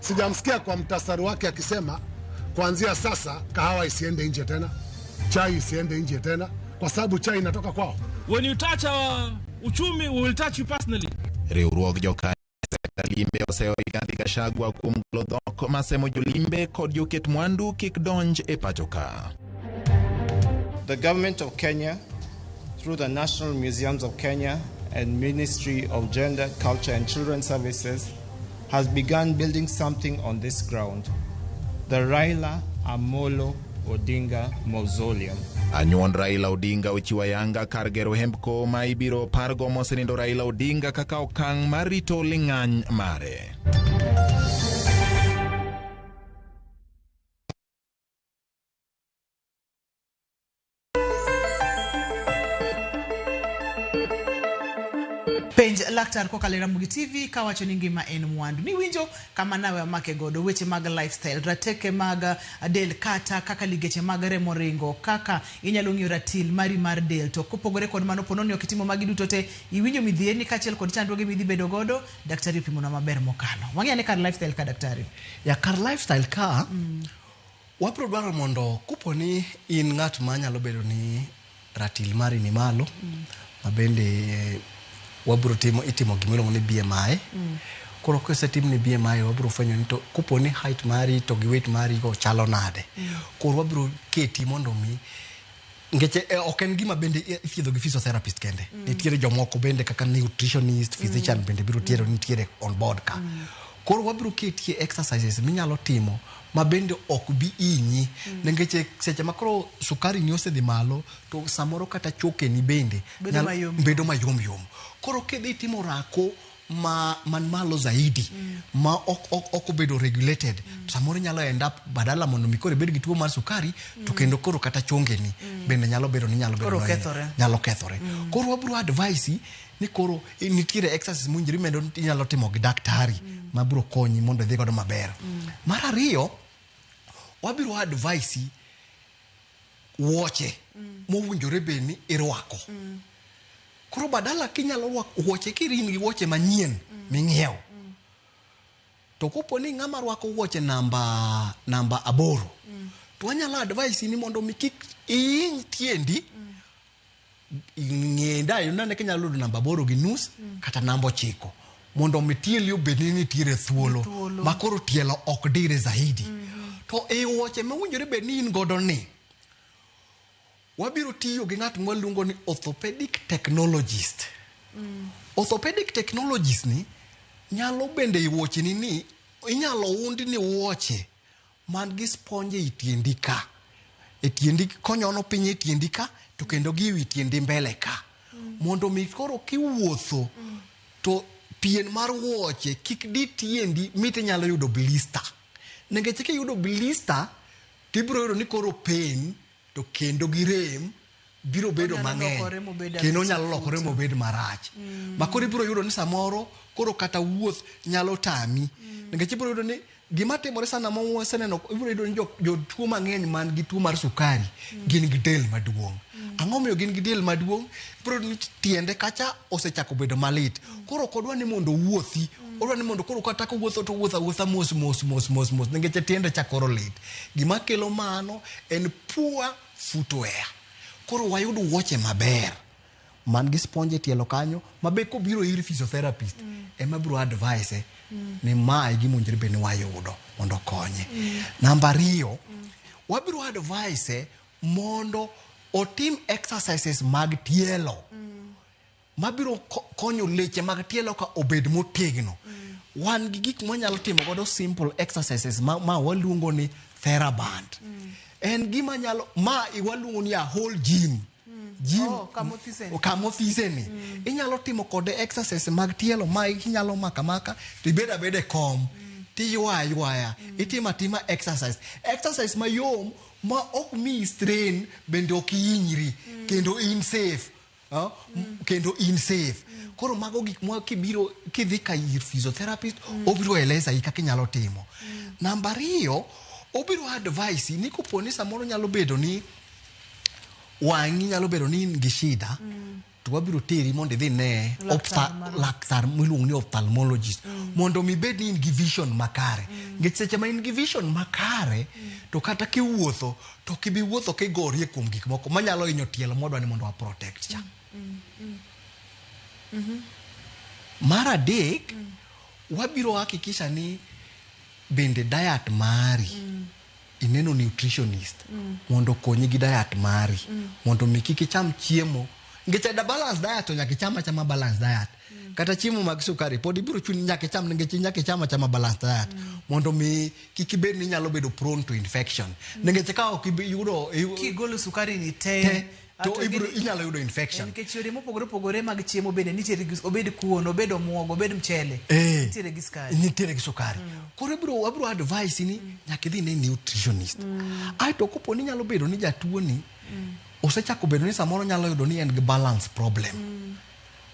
Sijamsikia kwa mtasari wake akisema kuanzia sasa kahawa isiende nje tena, chai isiende nje tena, kwa sababu chai inatoka kwao. When you touch our uchumi, we will touch you personally. riwruog jokanyo limbe oseyo Rigathi Gachagua kuom golo dhok masemo jolimbe kod joket mwandu kik donj e pachoka. The government of Kenya, through the National Museums of Kenya and Ministry of Gender, Culture and Children Services, has begun building something on this ground, the Raila Amolo Odinga Mausoleum. Anyuond Raila Odinga ochiwo ayanga kar gero hembko ma ibiro pargo mosenindo Raila Odinga kaka okang' mar rito ling'any mare. penj laktar kokalo e Ramogi TV kawacho ni ngima en mwandu. Niwinjo kama nawe amake godo weche mag lifestyle, rateke mag uh, del kata kaka ligeche mag remo ringo, kaka inyalo ng'iyo ratil mari mar del. To kopogore kod mano pono ni ok itimo magi duto te, iwinjo midhierni kaachiel kod chandruoge midhi bedo godo, daktari opimonwa maber mokalo. Wang'e ane kar lifestyle ka daktari. Ya kar lifestyle ka mm. Wabiro dwaro mondo kopo ni in ng'at ma nyalo bedo ni ratil mari ni malo, ma bende wabiro timo, itimo gima iluongo ni BMI. Koro kisetimni BMI wabiro fwenyo ni to kopo ni height mari to gi weight mari go chalo nade. Koro wabiro keti mondo mi nikech e, ok en gima bende i- ithiedho gi physiotherapist kende nitiere jomoko bende kaka nutritionist physician bende biro tiero nitiere on board ka koro wabiro ketie exercises minyalo timo ma bende ok bi inyi nikech e- seche ma koro sukari ni osedhi malo to samoro kata chokeni bende Bedo nyalo- mayom. bedo mayom yom koro kidhi timo rako ma man malo zaidi mm. ma ok ok ok obedo regulated mm. to samoro nyalo end up badala mondo mi koro ibed gi tuo mar sukari mm. to kendo koro kata chongeni mm. bende nyalo bedo ni nyalo bedo kethore nyalo kethore mm. koro wabro advice ni koro nitiere exercise munjiri mendo inyalo timo gi daktari mm. ma bro konyi mondo idhi godo maber mm. mar ariyo wabiro advice wuoche mm. mowinjore bed ni irwako mm. koro badala kinyalo rwako wuoche kirin gi wuoche manyien mm. ming'iewo mm. to kopo ni ng'ama rwako wuoche namba namba aboro mm. to anyalo advise ni mondo mi kik iiny tiendi mm. ng'e dayo nane kinyalo yudo namba aboro gi nus kata namba ochiko mondo mi tieli obed ni nitiere thuolo Thuolo. ma koro tielo ok dire zaidi to e wuoche mowinjore bed ni in godo ni wabiro tiyo gi ng'at mwaluongo ni orthopedic technologist orthopedic technologist ni nyalo bende i wuocheni ni inyalo undi ni wuoche man gi sponj ei tiendi ka e tiendi konyono piny e tiendi ka to kendo gi wi tiendi mbele ka mondo mi koro kiwuotho to pien mar wuoche kik di tiendi mit inyalo yudo blister nikech kiyudo blister tibiro yudo ni koro pain to kendo gi rem biro bedo mang'eny kendo onyalo lokore mobed marach mm. ma koro ibiro yudo ni samoro koro kata wuoth nyalo tami mm. nikech ibiro yudo ni gima timore sana ma waseneno ibiro yudo ni jotuo mang'eny man gi tuo mar sukari mm. gin gi del maduong' ang'o miyo gin gi del maduong' ibiro yudo ni tiende kacha osechako bedo malit koro ok odwa ni mondo owuothi odwa ni mondo koro kata kowuotho to wuotho awuotha mos mos mos mos mos nikech tiende chakoro lit gima kelo mano En poor footwear. Koro wayud wuoche maber man gi sponge e tielo kanyo ma be kobiro ir physiotherapist mm. ema biro advise eh, mm. ni ma e gima owinjore bed ni wayudo mondo okonye. Mm. Namba ariyo, mm. wabiro advise eh, mondo otim exercises mag tielo. Mm. mabiro konyo leche mag tielo ka obed motegno wan gi gik mwanyalo timo godo simple exercises ma, ma waluongo ni theraband mm. en gima nyalo ma waluongo ni a whole gym gym oh, kamothiseni mm. inyalo timo kode exercise mag tielo ma inyalo maka maka to ibed abed e kom mm. tiywa ywaya mm. itimo atima exercise exercise mayom ma ok mi strain bende ok ihinyri mm. kendo in safe Ah, m- kendo in safe koro mago gik ma kibiro kidhi ka ir physiotherapist obiro eleza i kaka inyalo timo namba ariyo obiro advice ni kopo ni samoro nyalo bedo ni wang'i nyalo bedo ni in gi shida to wabiro teri mondo idhi ne Laktar ophtha- marwa. laktar miluongo ni ophthalmologist mondo mi bed ni in gi vision makare nikech seche ma in gi vision makare to kata kiwuotho to ok ibi wuotho ka igorie kuom gik moko manyalo hinyo tielo modwa ni mondo wa protect cha mar adek wabiro hakikisha ni bende diet mari ineno nutritionist mondo okonyi gi diet mari mondo mi kik icham chiemo nikech ada balance diet to nyaka icham achama balance diet mm. kata chiemo mag sukari pod ibiro chuni nyaka icham nikech nyaka icham achama balanced diet mm. mondo mi kik ibed ni inyalo bedo prone to infection mm. nikech ka ok iyudo kigolo sukari ni te, te to ibiro inyalo yudo infection nikech yore mopogore opogore mag chiemo bende nitiere gi obed kuon obed omuogo obed mchele eh, nitiere gi sukari nitiere gi sukari mm. koro ibiro abiro advice ni mm. nyaka idhi ne nutritionist mm. ai to kopo ni nyalo bedo ni jatuo ni mm. osechako bedo ni samoro nyalo yudo ni en gi balance problem mm.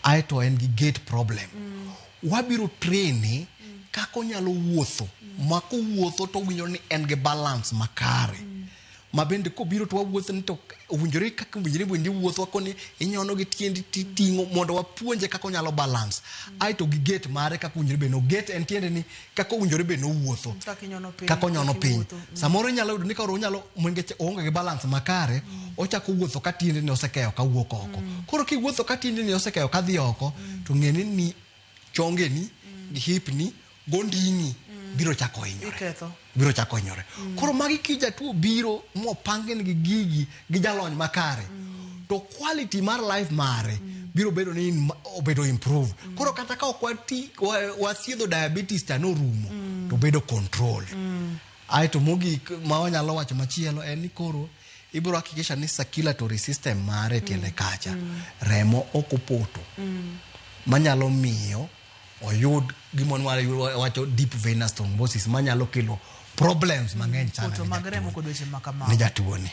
ae to en gi gate problem. Wabiro trene kaka onyalo wuotho ma kowuotho to owinjo ni en gi balance makare ma bende kobiro to wawuotho ni to owinjore kaka owinjore bende iwuotho koni inyono gi tiendi titing'o mondo wapuonje kaka onyalo balance ae to gi gate mare kaka owinjore bed ni oget en tiende ni kaka owinjore be nowuotho kaka onyono piny mm. samoro inyalo yudo ni ka onyalo mwengeche oonge gi balans makare mm. ochako wuotho ka tiende ni osekeyo ka wuok oko mm. koro kiwuotho ka tiende ni osekeyo ka dhi oko to ng'eni ni chongeni gi hipni gondini biro chako hinyore biro chako hinyore koro magi kijatuo biro mopangin gi gigi gi jalony makare mm. to quality mar life mare mm. biro bedo ni obedo improve mm. koro kata ka ok wati wathiedho diabetes ta norumo mm. to bedo control mm. ae to mogik ma wanyalo wacho machielo en ni koro ibiro hakikisha ni circulatory system mare tiende mm. kacha mm. remo ok opoto mm. manyalo miyo oyud gima nwale wacho deep venous thrombosis manyalo kelo problems mang'eny sana Poto ne mag remo jatuo- kod weche ma ne kamago. jatuoni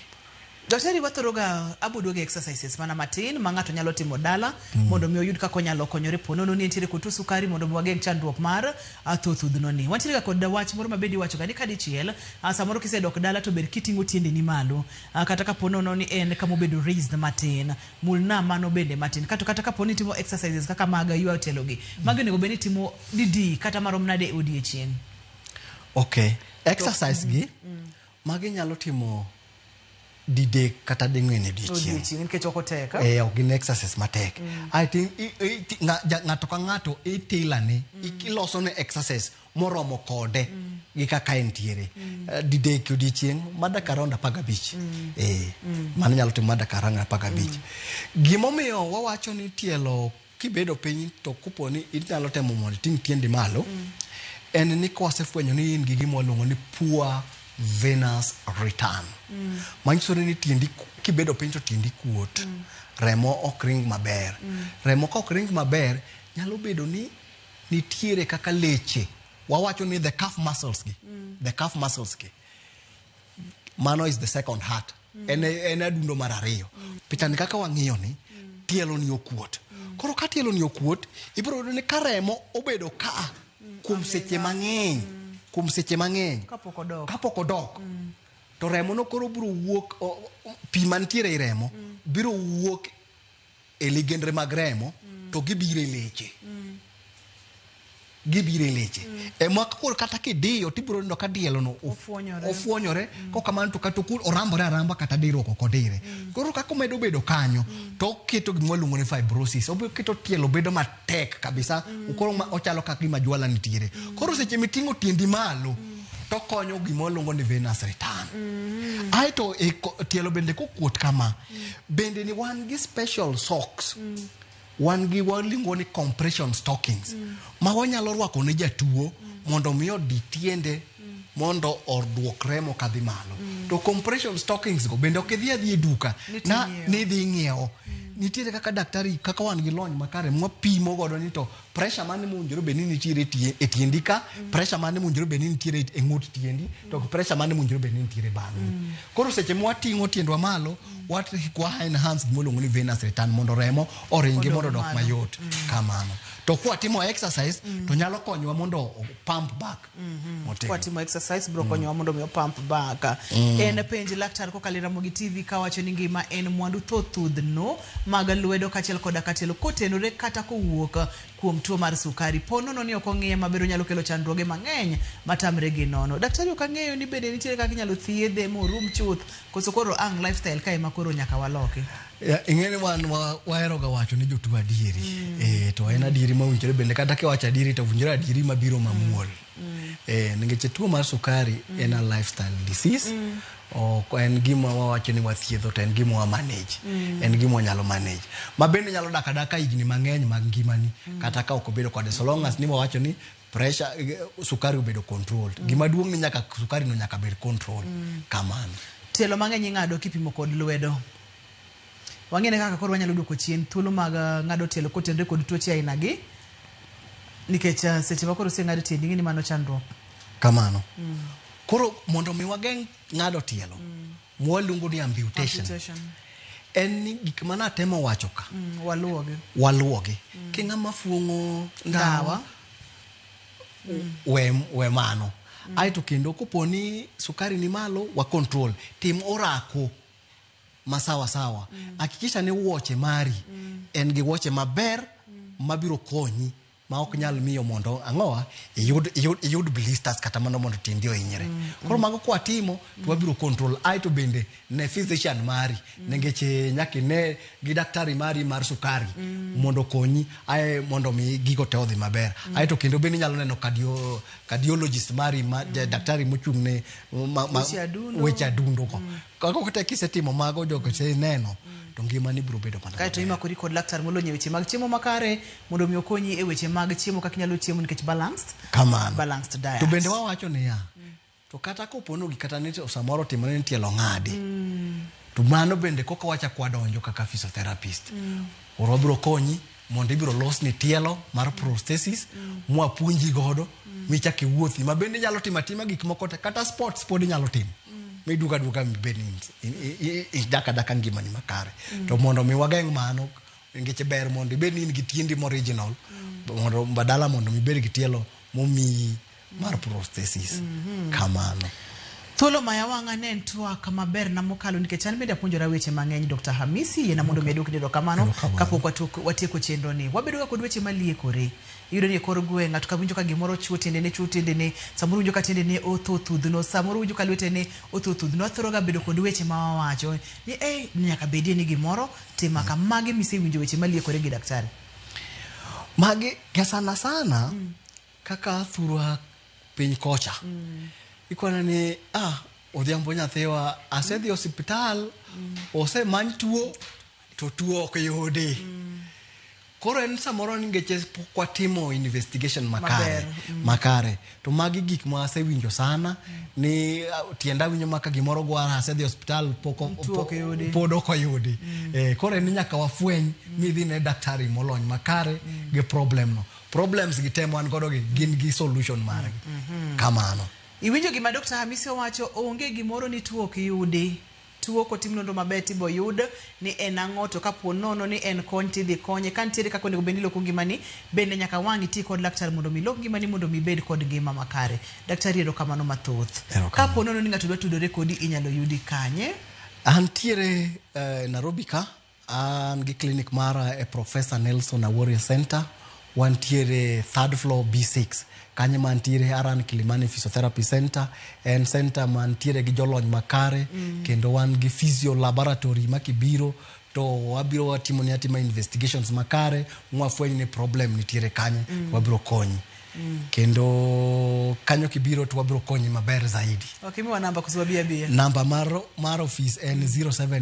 Daktari wathoroga abudo gi exercises mana matin ma ng'ato nyalo timo dala mondo mi oyud kaka onyalo konyore po nono ni nitiere kod tuo sukari mondo mi wageng' chandruok mar ah, tho thudhno ni. Wantiere ga kod wach moro ma bende iwachoga ni kadichiel ah, samoro kisedok dala to ber kiting'o tiendeni malo ah, kata ka po nono ni en kama obedo raised matin Mulna mano bende matin. Kato kata kapo ni itimo exercises kaka mag ywa otelogi, magi onego bed ni itimo didi kata marom nade e odiechieng'? Okay. Exercise gi, magi inyalo timo didek kata ding'wen e odiechieng'. Odiechieng' nikech ok otek. a? Eh, ok gin exercise matek. I think i- i- ti- nga- ja- ng'ato ka ng'ato i tailor ne, i- iloso ne exercise moromo kode mm. gi kaka entiere mm. uh, didek odiechieng mada kar around apar gabich mm. eh, mm. mano nyalo timo mada kar around apar gabich mm. gimomiyo wawacho ni tielo kibedo piny to kupo ni inyalo temo mondo iting tiendi malo mm. en ni kwasefwenyo ni in gi gima waluongo ni poor venous return mm. manyiso ni tiendi kibedo piny to tiendi kuot mm. remo ok ring maber mm. remo ka ok ring maber nyalo bedo ni nitiere kaka leche wawacho ni the calf muscles gi mm. the calf muscles gi mano is the second heart mm. en, en adundo mar ariyo mm. pichani kaka wang'iyo ni mm. tielo ni okuot mm. koro ka tielo ni okuot ibiro yudo ni ka remo obedo ka mm. kuom seche mang'eny mm. kuom seche mang'eny kapok odok, kapok odok. Mm. to remo no koro biro wuok pi mantiere i remo mm. biro wuok e ligendre mag remo mm. to gibiro e leche mm. gibiro e leche mm. e mwaka koro kata kidiyo tibiro neno ka dielono ofwonyore mm. kok kamano to kata orambore aramba kata dirruok ok odire mm. koro kaka omedo bedo kanyo mm. to oketo gima luongo ni fibrosis oketo tielo bedo matek kabisa mm. koro ochalo kaka gima jwala nitiere mm. koro seche miting'o tiendi malo mm. tokonyo gima waluongo ni venus return mm. aeto e tielo bende kokuot kama bende ni wan gi special socks wan gi waluongo ni compression stockings ma wanyalo rwako ne jatuo mondo mi odi tiende mondo oduok remo kadhi malo to compression stockings go bende ok idhi adhi e duka na nidhi ing'iewo nitiere kaka daktari kaka wan gi lony makare mwapimo godo ni to pressure mane mowinjore bed ni nitiere e tie- e tiendi ka pressure mane mowinjore bed ni nitiere e ng'ut tiendi to gi pressure mane mowinjore bed ni nitiere bang'i koro seche mwating'o tiendwa malo wat- kwa enhance gima iluongo ni venous return mondo remo oringi mondo odok mayot kamano to kwatimo exercise to nyalo konyowa mondo pump back Mhm. Motegno. kwatimo exercise biro konyowa mondo mi opamp baka en penj laktar kokalo Ramogi TV kawacho ni ngima en mwandu thothudhno mag lwedo kaachiel koda katelo kotenore kata kowuok kuom tuo mar sukari po nono ni ok ong'iye maber onyalo kelo chandruoge mang'eny matamre gi nono daktari ok ang'eyo ni bende nitiere kaka inyalo thiedhe morum chuth koso koro ang lifestyle ka ema koro nyaka waloki Ya, ing'e ni wan wa- waheroga wacho ne jotuo adieri Eh, to en adieri ma winjore bende kata kiwacho adieri to winjore adieri mabiro mamuol Eh, nikech tuo mar sukari en a lifestyle disease ok en gima wawacho ni wathiedho to en gima wa manage en gima wanyalo manage ma bende nyalo dak adaka higni mang'eny mag ngimani kata ka ok obedo kode so long as ni wawacho ni pressure eh, sukari obedo controlled gima duong' ni nyaka sukari no nyaka bed control kamano Tielo mang'eny ing'ado kipimo kod lwedo. Wang'ine kaka koro wanyalo duoko chien thuolo mag eh, ng'ado tielo kotenre kod tuoche aina gi nikech eh, seche ma koro oseng'ado tiendi ing'e ni mano chandruok. Kamano. Mm. Koro mondo mi wageng' ng'ado tielo mm. mwaluongo ni amputation. amputation. En ni gik ma natemo wacho ka. Mm, waluwogi. Waluwogi. Mm. King'a mafuong'o ndawa. Mm. We, we mano. Mm. Aeto kendo koponi sukari ni malo wa control. Tim orako. masawa sawa mm. hakikisha ni wuoche mari mm. en gi wuoche maber mm. mabiro konyi ma ok nyal miyo mondo ang'owa iyud, iyud, iyud blisters kata mano mondo tiendi ohinyre mm. koro mago kwatimo to wabiro control ai to bende ne physician mari mm. nengech eh, nyaka ine gi daktari mari mar sukari mm. mondo konyi ae mondo mi gigo te odhi maber mm. ae to kendo bende inyalo neno kadio cardiologist mari ma, mm. daktari mochung' ne ma, ma, weche adundo ko mm. kako kata kisetimo mago jogo se neno mm. to ngimani biro bedo mana kae to imakori kod laktar molony e weche mag chiemo makare mondo mi okonyi e weche mag chiemo kaka inyalo chiemo nikech balanced kamano balanced diet to bende wawacho niya mm. to kata kopono gi kata ni samoro timore ni tielo ng'adi mm. to mano bende koka wacha kwadonjo kaka physiotherapist mm. oro biro konyi mondo ibiro losni tielo mar prosthesis mwapuonji godo michak iwuothi ma bende inyalo timo atima gik moko te kata sports pod inyalo timo miduga aduga mibed idaka daka ngimani makare to mondo mi wageng' mano nikech ber mondo ibed ni in gi tiendi moriginal mondo badala mondo mibed gi tielo momiyi mar prosthesis kamano Thuolo maya wang'a ne en twak maber na mokalo nikech an bende apuonjora weche mang'eny Dr. Hamisi yena mondo mi adwok ni erokamano Erokamano. kapok watuok- watieko chenro ni. Wabedo ga kod weche maliekore. Iyudo ni e kor gweng' ng'ato ka winjo ka gimoro chuo tiendene chuo tiendene, samoro winjo ka tiendene otho thudhno, samoro winjo ka lwetene otho thudhno. Wathoro ga bedo kod weche ma wawacho ni eh nyaka bedie ni gimoro tima ka. Magi misewinjo weche maliekore gi daktari. magi ka sana sana Kaka athurwa piny kocha, ikwana ni ah, Odhiambo nyathiwa asedhi osiptal, osemany tuo to tuo ok yudi. Koro en samoro ni ngeche pok watimo investigation makare, Maber. makare. To magi gik ma asewinjo sana ni ah, tienda winjo maka gimoro gwara asedhi osiptal pok o- Tuo ok yudi. pod ok oyudi. Eh, koro en ni nyaka wafweny midhi ne daktari molony makare gi problem no. problems gi tem wan godo gi gin gi solution margi mm -hmm. kamano iwinjo gima dr hamisi owacho onge gimoro ni tuo ok yudi tuo kotim nonro maber tibo yud ni en ang'o to kapo nono ni en kony tidhi konye ka nitiere kaka onego bed ni iloko ngimani bende nyaka wang' iti kod laktar mondo mi lok ngimani mondo mi ibed kod ngima makare daktari ero kamano mathoth kapo nono ni ng'ato dwa tudore kodi inyalo yudi kanye antiere uh, eh, narobi ka An gi clinic mara e Professor Nelson Awori Center, wantiere third floor B6. Kanyo mantiere Haran Kilimani Physiotherapy Center, en center mantiere gi jolony makare mm. kendo wan gi physio laboratory ma kibiro to wabiro watimo ni atima investigations makare mwafweny ni problem nitiere kanyo mm. wabiro konyi Mm. kendo kanyo kibiro to wabiro konyi maber zaidi. Okay, namba mar, mar office en mm. 07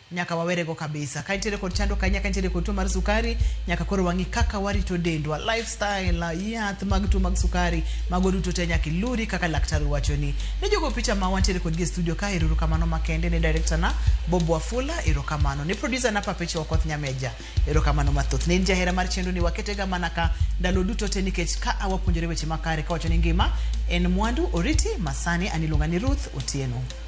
Nyaka wawere go kabisa. Ka nitiere kod chando kanyaka nitiere kod tuo mar sukari, nyaka koro wang'i kaka warito dendwa, lifestyle, yath mag tuo mag sukari, mago duto te nyaka iluri kaka laktar wachoni. Ne jogo picha ma wantiere kod gi e studio ka eruru kamano makende ne director na Bob Wafula, ero kamano. Ne producer na Papecho Okoth Nyameja, ero kamano mathoth. Ne jahera mar chenro ni wakete ga mana ka ndalo duto te nikech ka awapuonjore weche makare ka wacho ni ngima en mwandu oriti masani aniluonga ni Ruth Otieno.